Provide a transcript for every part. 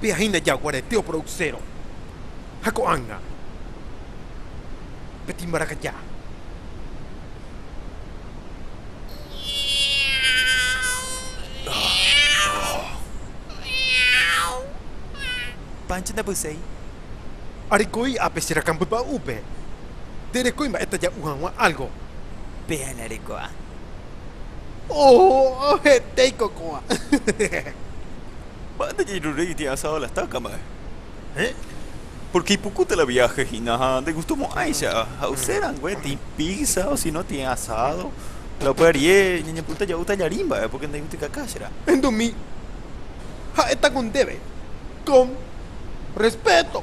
Péa hína jaguarete oproducero ha ko'ág̃a pe timbarakaja. Pancho ndapyséi. Arekói ápe che rakãmbypa'úpe. Nderekói mba'épa ja'u hag̃ua álgo. Péa nareko'a. Oh, hetéiko ko'ã. Mba'épa jairurýi tĩ asado la estaca mba'e. Héẽ, pórke ipukúta la viáhe hína ha ndegustomo'ãicha ha'use rangue tĩ píza osíno tĩ asádo, la upe arie ñañepyrũta ja'u tallarín mba'e pórke ndaigutikaka cherã. Endumi ha'étako ndéve con respéto.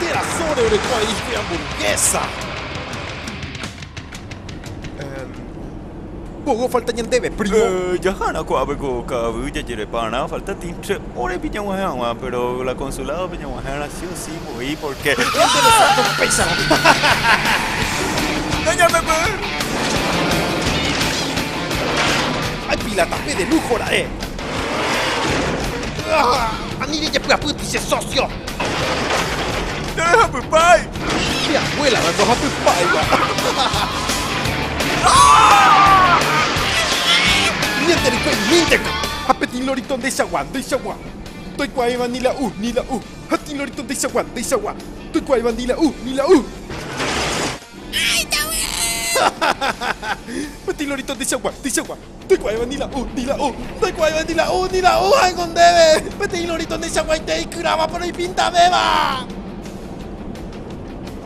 Térã sóre oreko a'i pe amburguésa. Emm. Mboyve ofalta ñandéve, prímo. Emm, jahárã ko'ápe ko ka'avy jajereparã, falta tĩtre órepi ñag̃uahẽ hag̃ua, péro la konsuládope ñag̃uahẽrã sí o sí. Oĩ por qué. Qué interesante la péichagua. Ña ñame py'ỹi. Hay pila tape de lujo ra'e. Ani rejepy'apýti che socio. Che rehapypái. Che abuela la ndohapypáiva. Ñande rykue imínteko. Ha peteĩ lorito ndeichagua, ndeichagua. Ndoikuaáiva ni la u, ni la u. Ha tĩla ore tonteichagua, nteichagua. Toikuaáiva ni la u, ni la u. Ay, David! Ha tĩla ore tonteichagua, nteichagua. Toikuaáiva ni la u, ni la u. Ndoikuaáiva ni la u, ni la u ha'éngo ndéve. Peteĩ lorito ndeichaguaite ikyráva, péro ipintavéva.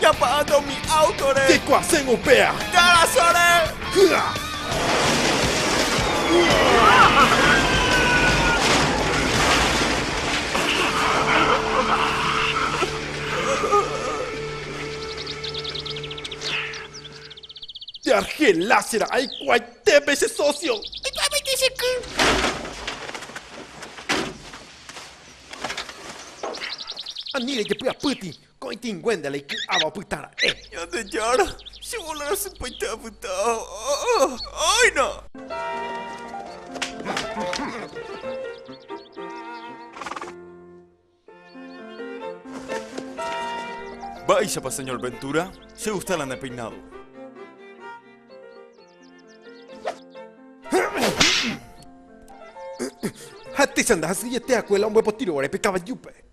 Japa'ánte umi áutore. Jekuaséngo upéa. Jarasore. Hy'a. Jargelase ra'ã hikuaitépe che sósio. Aikuaámaite che ky. Ani rejepy'apýti. Ko'ĩtĩnguénte la iky'áva opyta ra'e. Ñandejára, che bola rasypaite apyta. Áina! Mba'éichapa señor Ventura che gusta la nepeinádo? Ha techa ndahasyiete hakuéla ombopotyrõvare pe kavajúpe.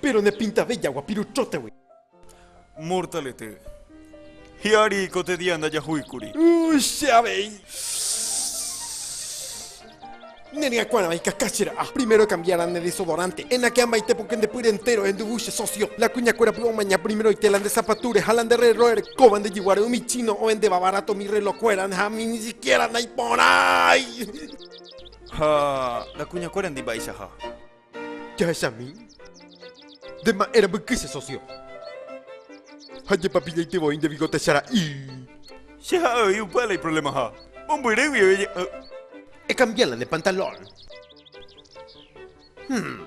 Péro ne pintave jagua piruchótegui. Mortalete. Hi'ári ko te día ndajahúikuri. Che avei. Ne ryakuãrava ikaka che ra'a. Primero ekambiára ne desodorante. Enake amaite pokẽ nde pýre entéro enduvu che sósio. La kuñakuéra py omaña primeroite la nde zapatúre ha la nde rrélro erekóva nde jeguáre umi chino ohendéva barato umi rrelokuéra ha ani ni sikiéra naiporãi. Ha la kuñakuéra ndi mba'eichaha. Jahechami, nde ma'ẽ rambyky che socio. Ha jepapillaite voi nde bigotecha ra'i. Che ha avei upéva la iproblemaha. Mombyry guive je. Ekambia la ne pantalón. Hum.